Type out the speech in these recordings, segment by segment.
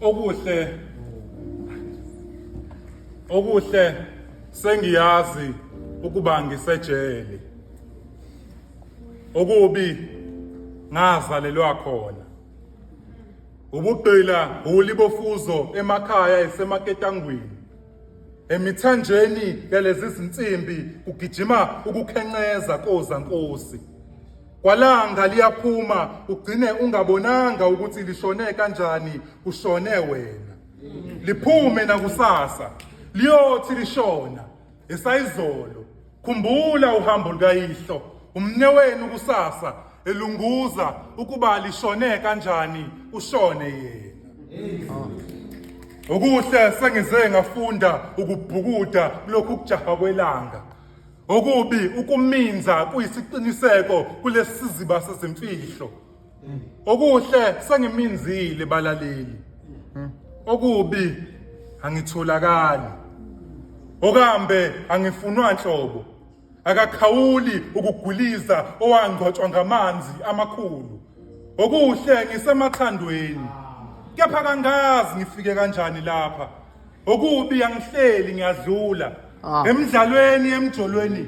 okuhle okuhle sengiyazi ukuba ngisejele okubi ngazalelwa khona ubugqila huli bofuzo emakhaya esemaketangwini Emithanjeni yalezi zinsimbi kugijima ukukhenqeza koza nkosi. Kwalanga liyaphuma ugcine ungabonanga ukuthi lishone kanjani kushone wena. Liphume nakusasa liyothi lishona esayizolo Khumbula uhambo lukayihlo, umnewenu kusasa elunguza ukuba lishone kanjani ushone yena. Okuhle sengize ngafunda ukubhukuda lokhu kujaha kwelanga. Okubi ukuminza kuyisiqiniseko kulesiziba sezimfihlo. okuhle sengiminzile balaleli hmm. okubi angitholakali okambe angifunwa nhlobo akakhawuli ukugwiliza owangcwatshwa ngamanzi amakhulu okuhle ngisemathandweni kepha kangazi ngifike kanjani lapha okubi angihleli ngiyadlula ah. emidlalweni emjolweni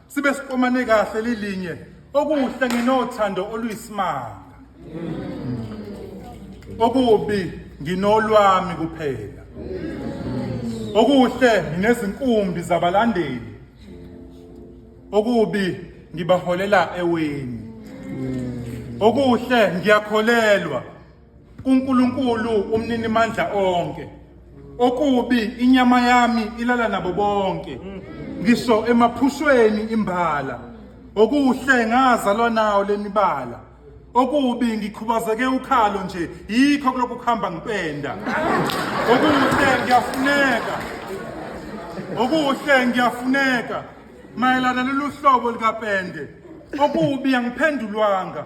sibe siqomane kahle lilinye okuhle nginothando oluyisimanga okubi nginolwami kuphela okuhle nginezinkumbi zabalandeli okubi ngibaholela eweni okuhle ngiyakholelwa kuNkulunkulu umnini mandla onke okubi inyama yami ilala nabo bonke ngisho emaphushweni imbala okuhle ngazalwa nawo lemibala okubi ngikhubazeke ukhalo nje yikho kulokhu kuhamba ngipenda okuhle ngiyafuneka okuhle ngiyafuneka mayelana lolu hlobo likapende okubi angiphendulwanga